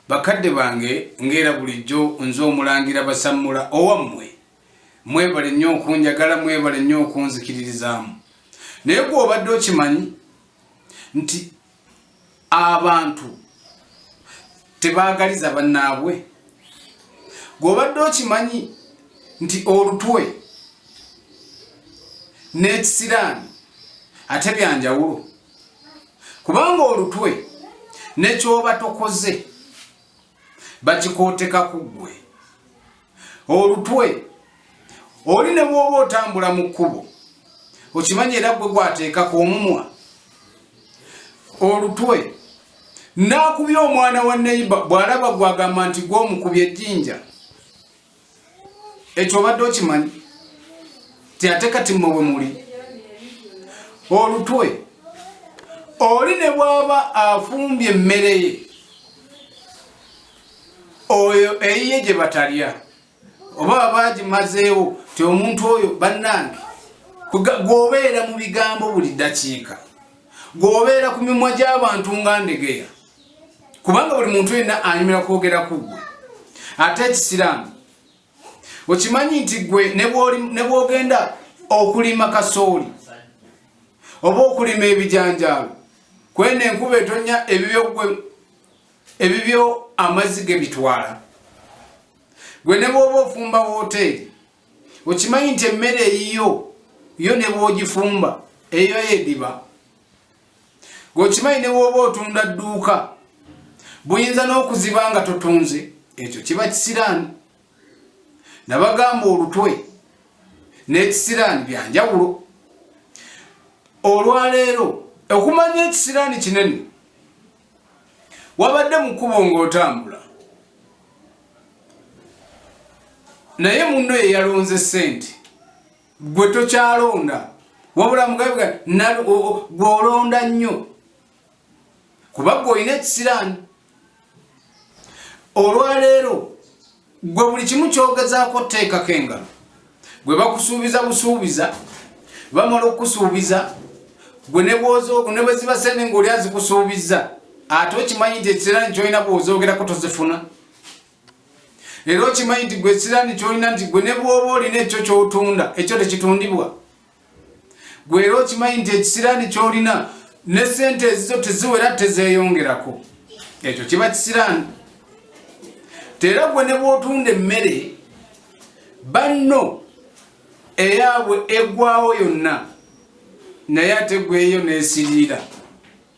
Bakadde bange ng'era bulijjo nze Omulangira Basammula owammwe, mwebale nnyo okunjagala, mwebale nnyo okunzikiririzaamu. Naye gwe obadde okimanyi nti abantu tebaagaliza bannaabwe? Gwe obadde okimanyi nti olutwe n'ekisiraani ate byanjawulo? kubanga olutwe nekyoba tokoze bakikooteka ku ggwe olutwe oli ne bwoba otambula mu kkubo okimanyi era gwe gwateekako omumwa olutwe naakubya omwana wa neyiba bw'alaba gwagamba nti gwe omukubya ejjinja ekyo obadde okimanyi ti ate kati mmwe bwe muli olutwe oli ne bwaba afumbye emmere ye oyo eyiye gye batalya oba baba agimazeewo ti omuntu oyo bannange gwobeera mu bigambo buli ddakiika gwobeera ku mimwa gy'abantu nga ndegeya kubanga buli muntu yenna anyumira kwogera ku ggwe ate ekisiraamu okimanyi nti ggwe ne bwogenda okulima kasooli oba okulima ebijanjaalo kwena enkuba etonya ebibyogwe ebibyo amazzi ge bitwala gwe ne bwoba ofumba wooteeri okimanyi nti emmere eyiyo yo ne bwogifumba eyo yediba gwekimanyi ne wooba otunda dduuka buyinza n'okuziba nga totunze ekyo kiba kisiraani nabagamba olutwe n'ekisiraani bya njawulo olwaleero okumanya ekisiraani kinene wabadde mu kkubo ng'otambula naye munno ye yalonze ssente gwe tokyalonda wabula mugabe gwolonda nnyo kuba gwe olina ekisiraani olwaleero gwe buli kimu kyogezaako teekako engalo gwe bakusuubiza busuubiza bamala okukusuubiza gwe nebweziba sente ngaoli azikusuubizza ate okimanyi nti ekisiraani kyolina bwozoogerako tozifuna era okimanyi nti gwe ekiraani kyolina nti gwe ne bwoba olina ekyo kyotunda ekyo tekitundibwa gwe era okimanyi nti ekisiraani kyolina ne sente ezizo teziwera tezeyongerako ekyo kiba kisiraani tera gwe ne bwotunda emmere banno eyabwe egwawo yonna naye ate gweyo nesiriira